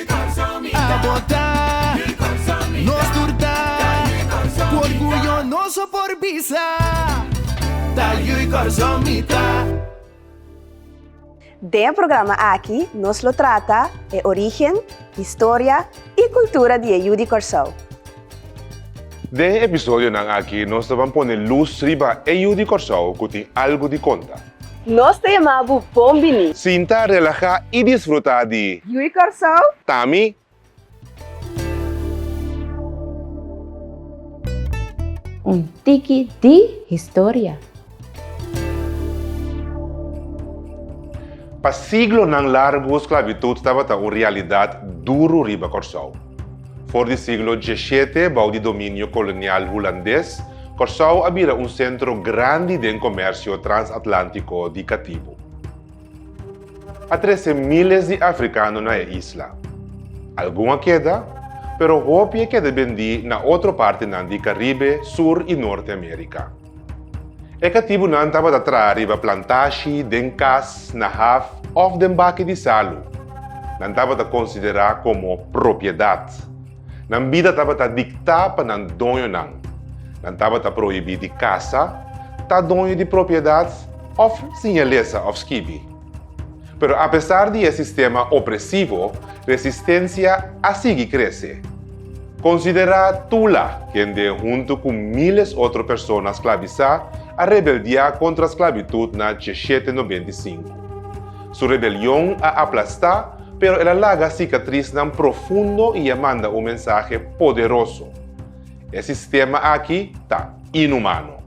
A botá, nos tur ta Ku orguyo nos a por bisa Ta yu i kòrsou mi ta. Den e programa aki nos lo trata e origen, historia i kultura di e yu di Kòrsou. Den e episodionan aki nos ta ban pone lus riba e yu di Kòrsou ku tin algu di konta. Nos ta yama bu bon bini. Sinta, relahá i disfrutá di. Ui Kòrsou! Ta mi. Un tiki di historia. Pa siglonan largu sklavitud tabata un realidat duru riba Kòrsou. For di siglo diesiete, bou di dominio kolonial hulandes, Kòrsou a bira un sentro grandi den komèrsio transatlantiko di katibu. A trese miles di afrikano na e isla. Algun a keda, pero hopi a keda bendí na otro partenan di Karibe, Sur i Norte Amérika. E katibunan tabata traha riba plantashi, den kas, na haf òf den baki di salu. Nan tabata konsiderá komo propiedat. Nan bida tabata diktá pa nan doñonan. Nan tabata prohibí di kasa, ta doño di propiedat òf siña lesa òf skibi. Pero apesar di e sistema opresivo, resistensia a sigui krese. Konsiderá Tula, kende huntu ku míles otro persona sklabisá a rebeldiá kontra sklabitut na Cheshete nobenta i sinku. Su rebelion a aplastá, pero el a laga sikatrisnan profundo i a manda un mensahe poderoso. E sistema aki ta inhumano.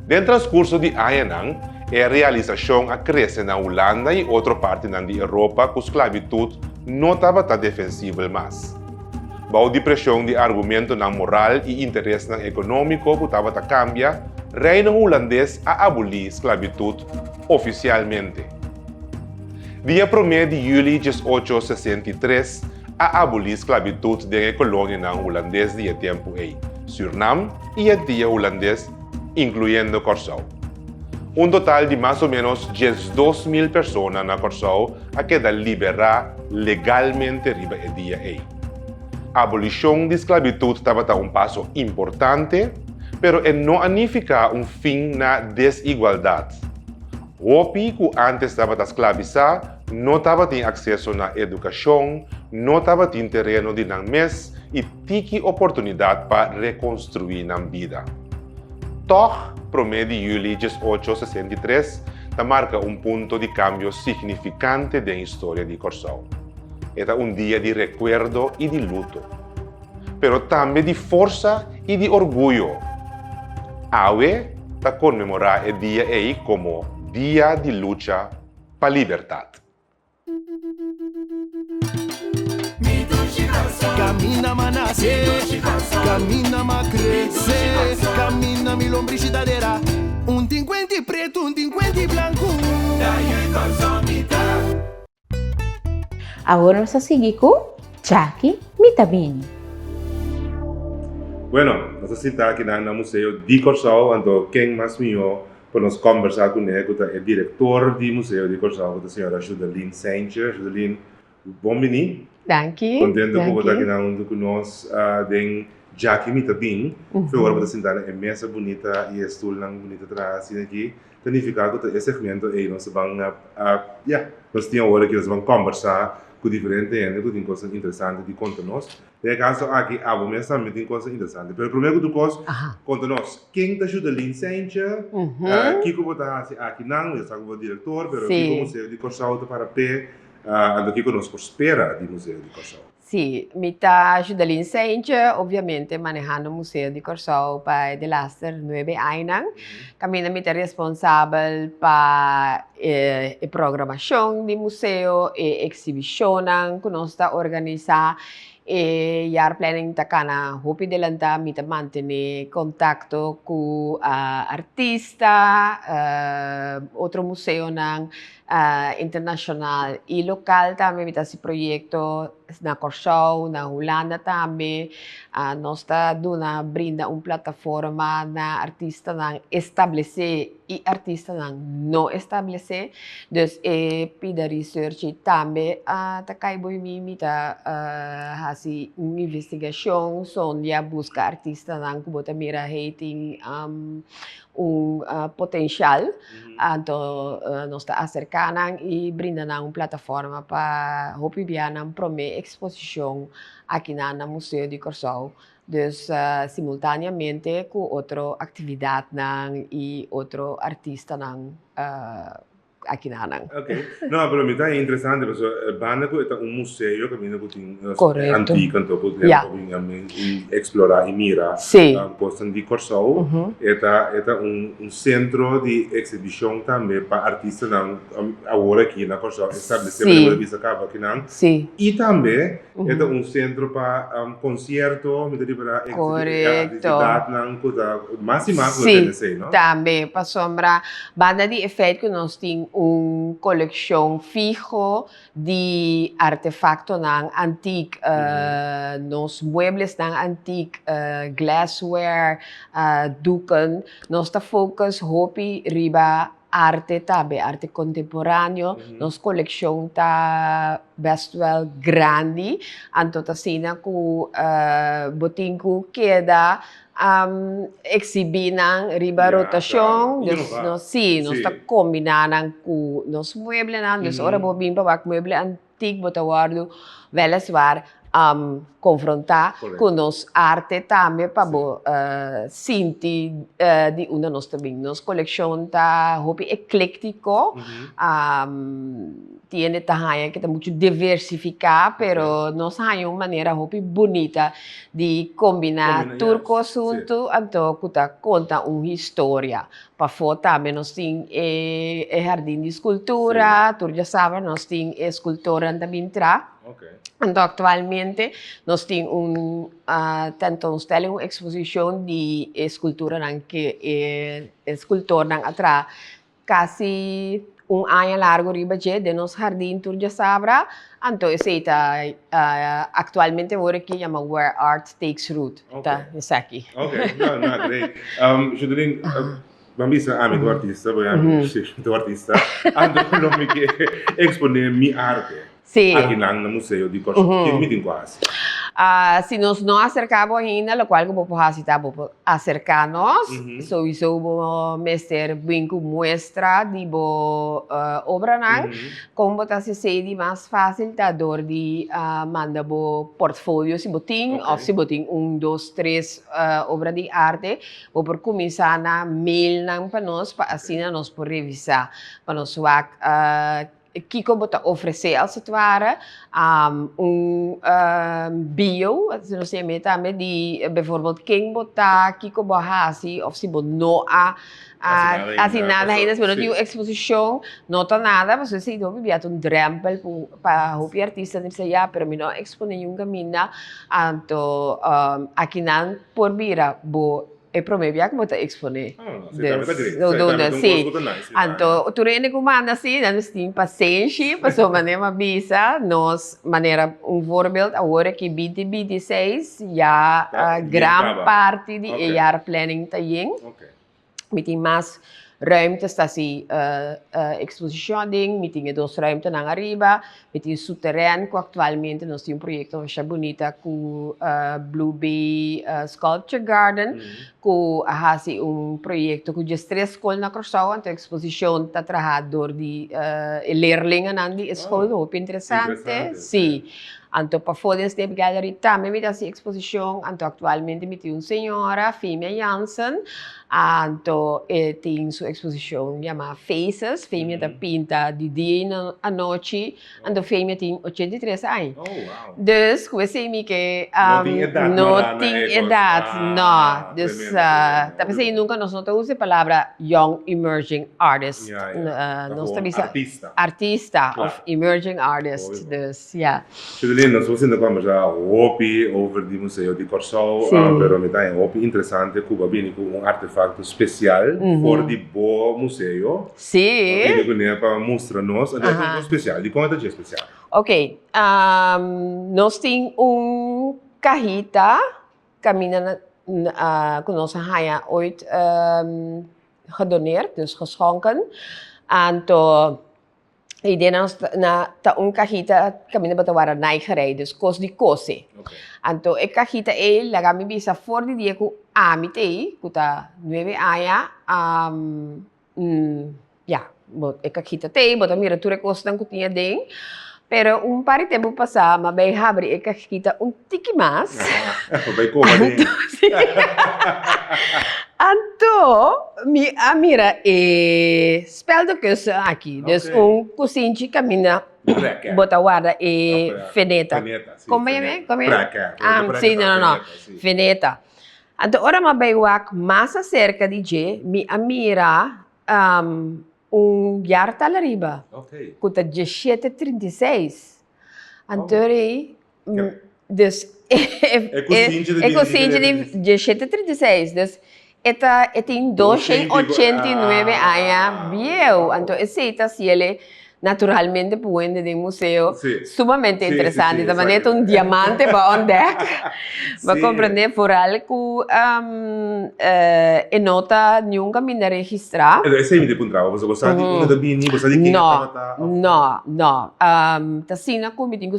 Den transkurso di añanan, e realisashon a krese na Hulanda i otro partinan di Europa ku sklabitut no tabata defensibel mas. Bou di preshon di argumentonan moral i interesnan ekonómiko ku tabata kambia, Reino Hulandes a abolí sklabitut ofisialmente. Dia promé di yüli diesocho sesenta i tres, a abolí sklabitut den e kolonianan hulandes di e tempu ei, Sürnam i e tia hulandes, inkluyendo Kòrsou. Un total di mas o ménos diesdos mil persona na Kòrsou a keda liberá legalmente riba e dia ei. Abolishon di sklabitut tabata un paso importante, pero e no a nifiká un fin na desigualdat. Hopi ku ántes tabata sklabisá No tabatin akseso na edukashon, no tabatin tereno di nan mes i tiki oportunidat pa rekonstruí nan bida. Tòg, promé di yüli dies ocho sesenta i tres ta marka un punto di kambio signifikante den historia di Kòrsou. E ta un dia di rekuerdo i di luto. Pero tambe di forsa i di orguyo. Awe ta konmemorá e dia ei komo Dia di Lucha. pa libertat. Awor nos a sigui cu Jackie Mi Ta Bini. Bueno, nos a sintá akinan na Museo di Kòrsou, anto ken mas mihó pa nos kòmbersá kuné ku ta e direktor di Museo di Kòrsou ku ta señora Judelin Saintje. Judelin, bon biní. Danki. Kontentu ku bo ta aki nan huntu ku nos den djaki mita bin. Por favor bo ta sintá na e mesa bunita i e stulnan bunita traha asin aki. Ta nifiká ku ta e segmento ei nos ta ban nos tin awor aki nos ta ban kòmbersá ku diferente hende ku tin kosnan interesante di konta nos. Den e kaso aki abo mes tambe tin kos interesante. Pero promé ku tur kos, konta nos, ken ta shuda Lynn Saintje? Kiko bo ta hasi aki nan? Bo ya sa ku bo a direktor, pero kiko Museo di Kòrsou ta para p'e? Anto kiko nos por spera di Museo di Kòrsou? Sí, mi ta shuda Lynn Saintje, obviamente, manehando Museo di Kòrsou pa e delaster nuebe ainan. Kaminda mi ta responsabel pa e programashon di museo, e eksibishonnan ku nos ta organisá. E Jaar Planning ta kana hopi delantá, mi ta mantené kontakto ku artista, otro museonan, internashonal i lokal tambe mi ta hasi proyekto na Kòrsou, na Hulanda tambe, nos ta duna brinda un plataforma na artistanan establesé i artistanan no establesé, dus e pida research ei tambe ta kai bo i mi, mi ta hasi un investigashon son di a buska artistanan ku bo ta mira hei tin un potencial, anto nos ta acerca nan y brinda nan un plataforma pa hopi bia nan prome exposicion aki nan na Museo di Corsou, dus simultaneamente cu otro actividadnan y otro artistanan. akinanan. Ok, no pero mi ta interesante paso banda cu e ta un museo caminda cu tin cosnan antica anto cu hende por bin a explora y mira cosnan di Corsou e ta e ta un centro di exhibicion tambe pa artistanan awor aki na Corsou establece por tabata bisa caba aki nan y tambe E ta un sentro pa concierto, mi ta riba na e actividad nan cu ta mas y mas lo tene esey, no? Si, tambe, pasobra banda di e feit cu nos tin un coleccion fiho di artefactonan antic, nos mueblesnan antic, glassware, doeken, nos ta focus hopi riba Arte ta be arte kontemporaneo, nos kolekshon ta best wel grandi, anto ta asina ku bo tin ku keda eksibí nan riba rotashon, dus nos si, nos ta kombiná nan ku nos mueblenan, dus ora bo bin pa wak mueble antiguo. Tik bo ta wordu weliswaar konfrontá ku nos arte tambe pa bo sinti di unda nos ta bini. Nos kolekshon ta hopi eklektiko, tiene ta haña ku ta muchu diversifiká pero nos haña un manera hopi bunita di kombiná tur kos huntu anto ku ta konta un historia. Pafó tambe nos tin e e hardin di skultura, tur djasabra nos tin e skultornan ta bin tra. Okay. Anto aktualmente nos tin un ah, tentoonstelling, un eksposishon di e skulturanan ke e e skultornan a traha kasi Un aña largo riba dje, den nos hardin tur djasabra, anto esei ta actualmente awor aki yama Where Art Takes Root, ta esaki. Ok, na, na, great. Um, Judeline, uh, ban bisa ami ku artista, bo ya mi, si, tu artista, anto lo mi ke exponé mi arte. Sí. Aki nan na Museo di Kòrsou, ke mi tin ku a hasi? Si nos no aserká bo ainda, lokual ku bo por hasi ta bo por aserká nos. Souiso bo mester bini ku muestra di bo obranan. Kon bo ta sesei di mas fásil ta dor di manda bo portfolio si bo tin òf si bo tin un, dos, tres obra di arte. Bo por kuminsá na meilnan pa nos pa asina nos por revisá, pa nos wak. Kiko bo ta ofresé als et ware un bio, nos tin e meta tambe di bevoorbeeld ken bo ta, kiko bo a hasi of si bo no a hasi nada henda, si bo no tin un exposicion, no ta nada, pasobra esei hopi bia ta un drempel pa hopi artista ta bisa ya pero mi no a exponé yun caminda, anto aki nan por bira bo. E prome bia ku bo ta eksponé. Anto tur hende ku manda si, nan mes tin pasenshi, pasobra mane mi a bisa nos manera, un voorbeeld awor e ki binti binti i seis ya gran parti di e yar planning ta yen, mi tin mas ruimte sta si eksposishon aden, mi tin e dos ruimtenan ariba, E tin su teren ku aktualmente nos tin un proyekto masha bunita ku Blue Bay Sculpture Garden ku a hasi un proyekto ku djes tres skol na Kòrsou anto e eksposishon ta traha dor di e lerlinganan di e skol hopi interesante si. Anto pafó den Snape Gallery tambe mi ta hasi eksposishon anto aktualmente mi tin un señora Fimia Jansen. Anto e tin su eksposishon yamá Faces, femia ta pinta di dia i anochi, anto femia tin ochenta i tres aña. Oh, wow! Dus ku esei mi ke No tin edat no tin mará na e kos. edat, no. Dus Tremendo, tremendo. ta p'esei nunka nos no ta usa e palabra young emerging artist. Ya, ya. Nos ta bisa. Artista. Artista Kla. òf emerging artist. Obvio. Dus ya. Super lindo, nos por sinta conversa hopi over di Museo di Corsou, sí. uh, pero mi ta e hopi interesante cu bo bini cu un artefacto special mm -hmm. for di bo museo. Sí. Bo bini cu ne pa mustra nos, uh -huh. un special, di como ta je special? Ok, um, nos tin un cajita camina na, uh, cu nos haya ooit um, gedoneerd, dus geschonken, anto Y den nan na ta un cajita caminda bo ta wara nai gerei, dus cos di cose. Okay. Anto e cajita ei laga mi bisa for di dia cu ami tei, cu ta nueve aña, um, mm, ya, bo, e cajita tei, bo ta mira tur e cosnan cu tin aden, pero un par di tempo pasa mi bay habri e cajita un tiki mas, Bo bay coma den. anto, si, anto mi a mira e. Speldenkussen aki des un kusinchi kaminda bo ta warda e feneta, feneta. Anto ora mi a bai wak mas aserka di dje mi a mira un yartal ariba ku ta djeshete trinta i seis, anto ora ei Des, e, e, e kusinchi ta diecisiete diecisiete treinta y seis, des e ta e tin doce y ochenta y nuebe aña bieu, anto esey ta hasiele naturalmente por wende den museo, sumamente interesante, ta manera ta un diamante bo on dek, bo comprende, foral cu e no ta niun caminda registra. Enton esey mi ta puntra bo, pasobra bo sa di unda ta bini, bo sa di ken a tabata of? No, no, ta asina cu mi tin cu.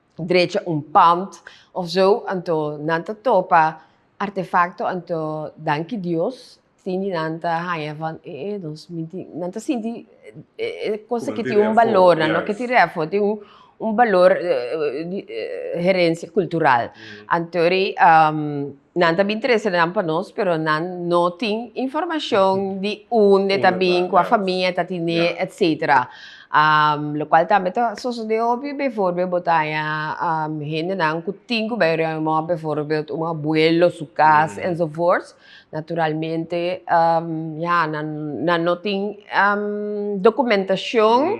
drecha un pand of zo anto nan ta topa artefakto anto danki Dios tin di nan ta haña van e e nos mi tin nan ta sinti e kosa ki tin un balor nan no ke tin reafo tin un balor herensia kultural anto ri. Nan ta bin trese nan pa nos, pero nan no tin informacion di unde ta bin, cua famia ta tine, etc. Lo cual tambe ta sosode hopi, bevoorbeeld bo ta haya hendenan cu tin cu bay ruim mop, bevoorbeeld un abuelo su cas, enzovoorts, naturalmente, ya, nan no tin documentacion.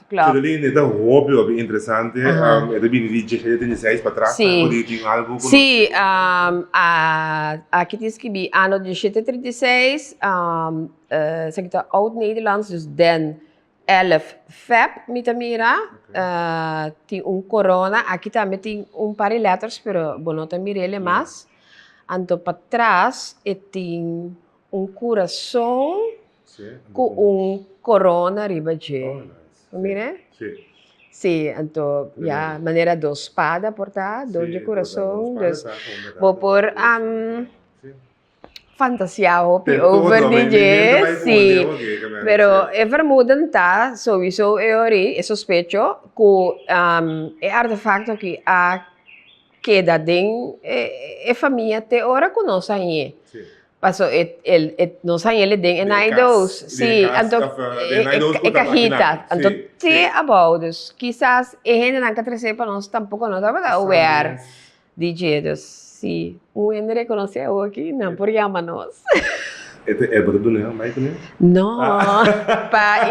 Edeline, e ta hopi hopi interesante, e ta bini di dje trenta i seis pa tras, ta kore yu tin algu ku nos ke konta. Aki tin skibi ano dje trenta i seis, esaki ta Oud Nederlands, dus den elf feb mi ta mira, tin un korona, aki tambe tin un par di letters pero bo no ta mira ele mas, anto pa tras e tin. Un kurason ku un korona riba dje. Bo mira e? Sí, anto ya manera dos spada por ta, dos dje kurason, dus. Bo por fantasia hopi over di dje, sí. Pero e vermuden ta souiso e ori, e sospecho, ku e artefakto aki a keda den e famia te ora ku nos a iñe. Paso nos a iñe den e naidos, si, anto e kajita, anto te abou. Dus kisas e hendenan ka trese pa nos tampoko no tabata aware di dje. Dus si un hende rekonosé awoki nan por yama nos. E ta eber duna e amai tambe? No, pa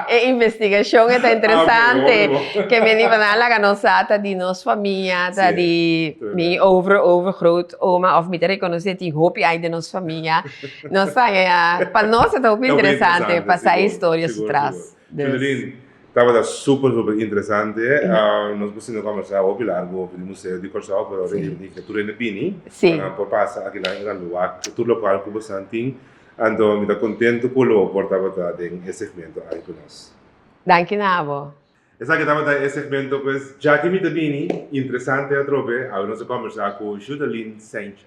e investigashon e ta interesante ke meni pa nan laga nos sa ta di nos famia, ta di mi over over groot oma of mi ta rekonosé tin hopi ai den nos famia. Nos ta haña ya, pa nos e ta hopi interesante pa sa historia su tras. Fridolin, tabata super super interesante, nos por sinti combersa hopi largu hopi di Museo di Corsou, pero ahora e niña tur hende bini, pa nan por pasa akinan e nan lugar cu tur local cu bosan tin, anto mi ta contento cu lo por tabata den e segmento aki cu nos. Danki na abo. Esaki tabata e segmento pues, dja cu mi ta bini, interesante atrobe, awe nos a combersa cu Judalin Saintje.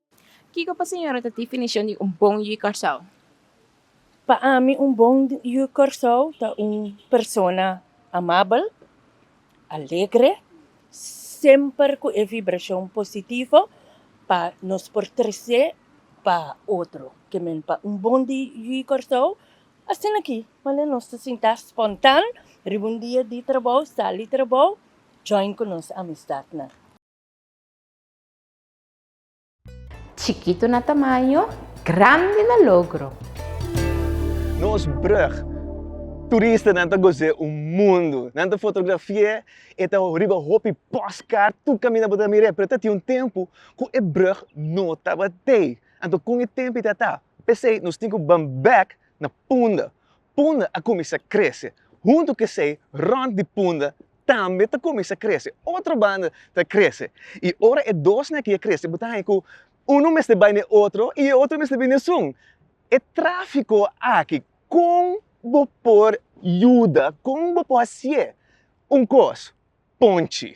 Kiko pa señora ta definishon di un bon yu Kòrsou? Pa ami un bon yu Kòrsou ta un persona amabel, alegre, semper ku e vibrashon positivo pa nos por trese pa otro. Ke men pa un bon yu Kòrsou, asina aki wende nos ta sinta spontan riba un dia di trabou, sal di trabou, join ku nos amisdatnan. Chikitu na tamaño, grandi na logro. Nos brug. Turistanan ta goz'é un mundu. Nan ta fotografi'é e ta riba hopi postkaart tur kaminda bo ta mir'é. Pero ta tin un tempu ku e brug no tabatin. Anto kon e tempu ta ta? P'esei nos tin ku ban bèk na punda. punda a kuminsá krese. Huntu ku esei, rònt di punda tambe ta kuminsá krese. Otro banda ta krese. I ora e dosnan aki a krese bo ta haña ku unu mester bai na e otro i e otro mester bini esun. E tráfiko aki kon bo por yuda, kon bo por hasié un kos? ponchi.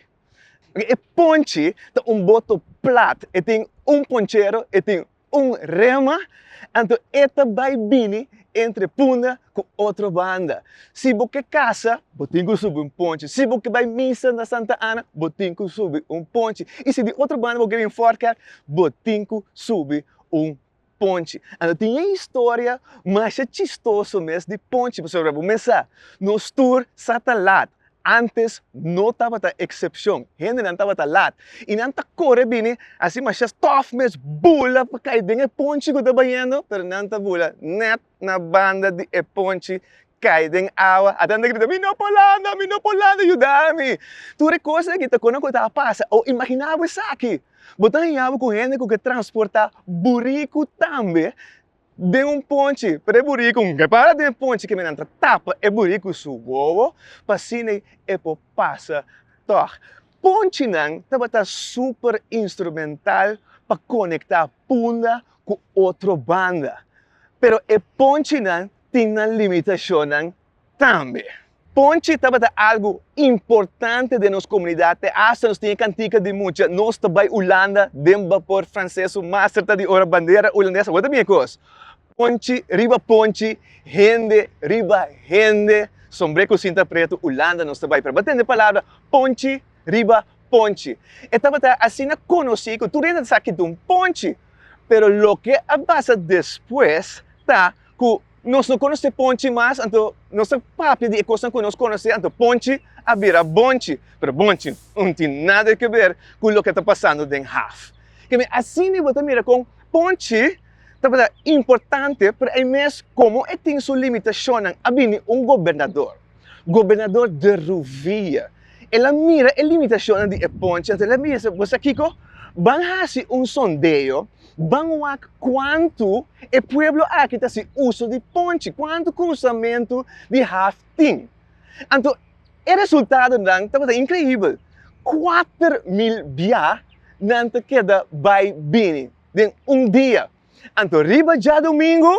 E ponchi ta un boto plat, e tin un ponchero, e tin un rema, anto e ta bai bini entre punda ku otro banda. Si bo ke kasa, bo tin ku subi un ponchi, si bo ke bai misa na Santa Ana, bo tin ku subi un ponchi, i si di otro banda bo ke bin Fort Kerk, bo tin ku subi un Ponchi. Anto tin e historia masha chistoso mes di Ponchi pasobra por ejemplo bo mesa nos tur sa ta laat antes no tabata excepcion hendenan tabata laat y nan ta core bini asi masha tof mes bula pa cay den e ponchi cu ta bayendo pero nan ta bula net na banda di e ponchi kai den awa ata nan ta grita mi no por landa mi no por landa yuda mi tur e kos aki ta kono ku a tabata pasa o imagina bo esaki bo ta haña bo ku hende ku ke transporta buriku tambe den un ponchi pero e buriku ke para den ponchi kimin nan ta tapa e buriku su wowo pa asina e por pasa tog ponchi nan tabata super instrumental pa konekta punda ku otro banda. Pero e ponchinan tin nan limitashonnan tambe. Ponchi tabata algu importante den nos komunidat te asta nos tin e kantika di mucha nos ta bai Ulanda den bapor franses su master ta di ora bandera ulandes a wota bin e kos. Ponchi riba ponchi, hende riba hende, sombre ku sinta pretu Ulanda nos ta bai pero bo tende palabra ponchi riba ponchi. E tabata asina konosí ku tur hende ta sa ki ta un ponchi. Pero loke a pasa despues ta ku nos no konosé ponchi mas, anto nos ta papia di e kosnan ku nos konosé, anto ponchi a bira bonchi. Pero bonchi no tin nada ke ber ku loke ta pasando den haf. Kende asina bo ta mira kon ponchi tabata importante, pero ai mes komo e tin su limitashonnan, a bini un gobernador. Gobernador de Ruvilla. El a mira e limitacionnan di e ponche, anto el a bisa, Bo sa kico? Ban haci un sondeo, ban wak cuantu e pueblo aki ta haci uso di ponche, cuantu cruzamento di haf tin. Anto e resultadonan tabata increibel, kuater mil biaha nan ta keda bay bini den un dia. Anto riba djadumingu,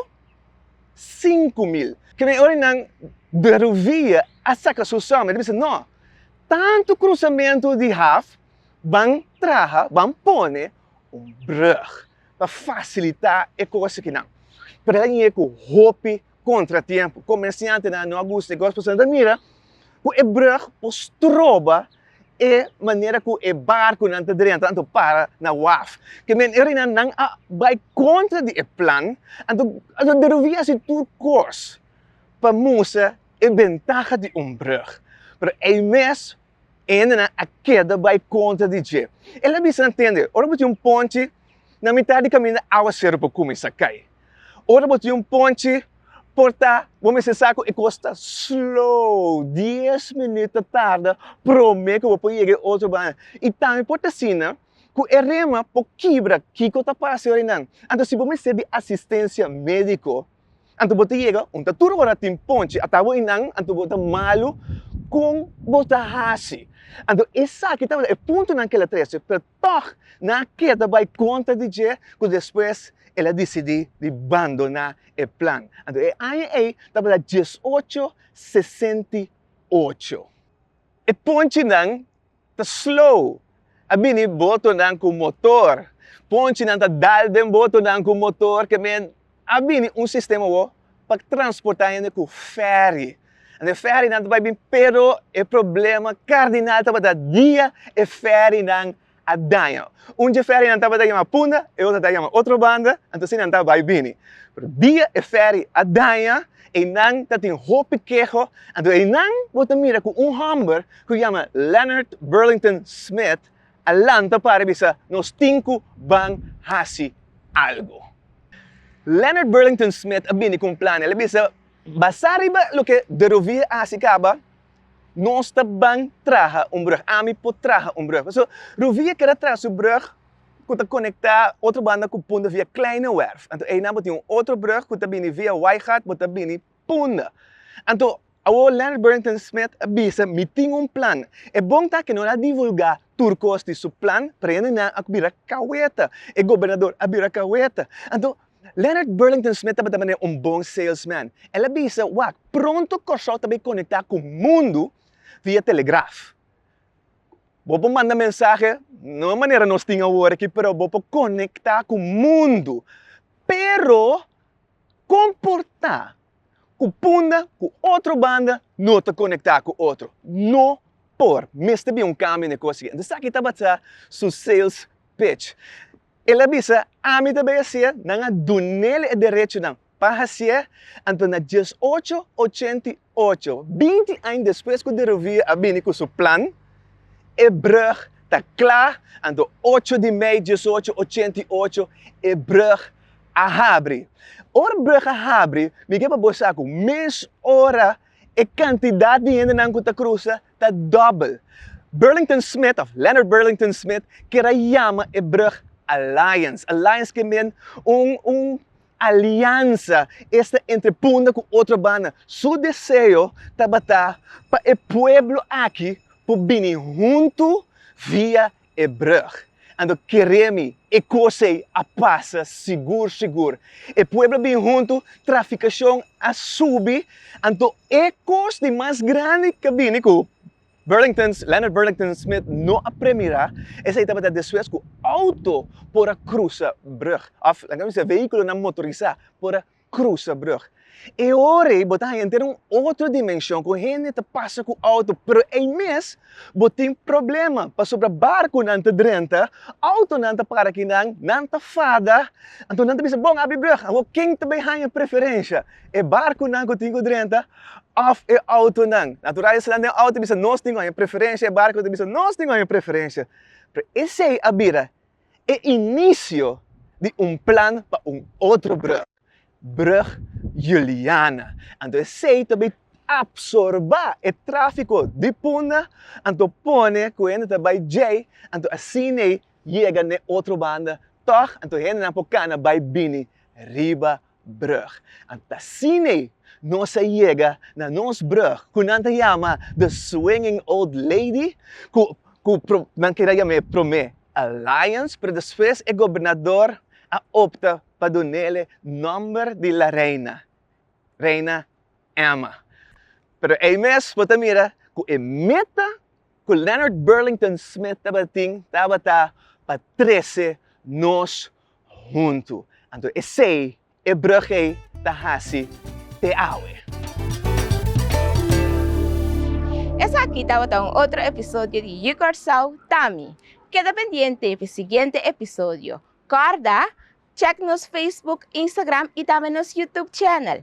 sinku mil. Kende ora nan de Rovilla a saka su som, e ta bisa, No, tantu krusamentu di haf, ban traha, ban pone un brùg pa fasilitá e kos akinan. Pero el a yega ku hopi kontratiempo. Komersiantenan no a gusta e kos pasobra nan ta mira ku e brùg por stroba e manera ku e barkunan ta drenta anto para na waf. Ke menerenan nan a bai kontra di e plan, anto a lo deruí hasi tur kos pa mustra e bentaha di un brùg. Pero ei mes. E hendenan a keda bai kontra di dje. El a bisa nan, Tende, ora bo tin un ponchi na mitar di kaminda, áwaseru por kuminsá kai. Ora bo tin un ponchi por ta, bo mester sa ku e kos ta slow, dies minüt ta tarda promé ku bo por yega e otro banda. I tambe por ta asina ku e rema por kibra. Kiko ta pasa, yorinan? Anto si bo mester di asistensia médiko, Anto bo ta yega un ta tur ora tin ponchi ata bo inan anto bo ta malu kon bo ta hasi anto esaki tabata e punto nan kela trese pero tog nan a keda bai kontra di dje ku despues el a disidi di bandona e plan anto e aña ei tabata diesocho sesenti ocho e ponchi nan. Ta slow. A bini botonan ku motor. Ponchinan ta dal den botonan ku motor ke men a bini un sistema awor pa transportá hende ku fèri. Ande fèrinan ta bai bin pero e problema kardinal tabata dia e fèrinan a daña. Un dje fèrinan tabata yama punda e otro ta yama otro banda anto asina nan ta bai bini. Dia e fèri a daña. Einan ta tin hopi keho, anto einan bo ta mira ku un hòmber ku yama Leonard Burlington Smith a lanta para i bisa, Nos tin ku ban hasi algu. Leonard Burlington Smith a bini ku un plan. El a bisa, Basá riba loke De Rovia a hasi kaba, nos ta ban traha un brùg. Ami por traha un brùg. So, Rovia keda traha su brùg. ku ta konektá otro banda ku punda via Kleine Werf. Anto einan bo tin un otro brug ku ta bini via Wijngaard bo ta bini punda. Anto awor Leonard Burlington Smith a bisa, Mi tin un plan. E bon ta ku no a divulgá tur kos di su plan, prende nan a bira kaweta. E gobernador a bira kaweta. Anto, Leonard Burlington Smith tabata manera un bon salesman. El a bisa, Wak, pronto Kòrsou ta bai konektá ku mundu via telegraf. Bo por manda mensahe no e manera nos tin awor aki pero bo por konekta ku mundu pero kon por ta ku punda ku otro banda no ta konekta ku otro no por mester bin un kambio n'e kos aki entonces esaki tabata su sales pitch el a bisa ami ta bai a hasi'e nan a dunel e derechonan Pa hasié, anto na dies ocho ochenta i ocho, binti aña despues ku de Rovira a bini ku su plan, e brug ta kla, anto ocho di mei dies ocho ochenta i ocho e brug a habri. Ora brug a habri, mi ke pa bo sa ku mes ora e kantidat di hendenan ku ta krusa ta dòbbel. Burlington Smith, òf Leonard Burlington Smith, keda yama e brug Alliance. Alliance ke men un, un aliansa esta entre Punda ku otro banda. Su deseo tabata pa e pueblo aki por bini huntu via e brug. Anto kere mi e kos ei a pasa sigur sigur. E pueblo bin huntu, trafikashon a subi, anto e kos di mas grandi ke bini ku Burlington's, Leonard Burlington Smith no a premirá, esei tabata despues ku outo por a krusa brùg, òf laga mi se vehíkulonan motorisá por a krusa brùg. E ora ei bo ta haña enter un otro dimenshon ku hende ta pasa ku outo pero ei mes bo tin problema pasobra barkunan ta drenta, outonan ta para kinan, nan ta fada, anto nan ta bisa bon abri brùg awor ken ta bai haña preferensha? E barkunan ku tin ku drenta òf e outonan. Natural esnan den outo ta bisa nos tin oña preferensha, e barku ta bisa nos tin oña preferensha. Pero esei a bira e inisio di un plan pa un otro brùg, Brug Juliana. Anto esei ta bai apsorbá e tráfiko di Punda, anto pone ku hende ta bai djei, anto asin'ei yega n'e otro banda, tòg anto hendenan por kana bai bini riba brug. Anta asine nos a yega na nos brug ku nan ta yama The Swinging Old Lady, ku ku nan keda yam'é promé Alliance, pero despues e gobernador a opta pa dun'ele nòmber di La Reina, Reina Emma. Pero ei mes bo ta mira ku e meta ku Leonard Burlington Smith tabatin tabata pa trese nos huntu. Anto esei e brug ei ta hasi te awe. Esaki tabata un otro episodio di Yu Kòrsou Tami. Keda pendiente pi siguiente episodio. Kòrda, Check nos Facebook, Instagram i tambe nos Youtube channel.